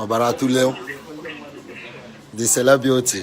ọbara tụle the celebrity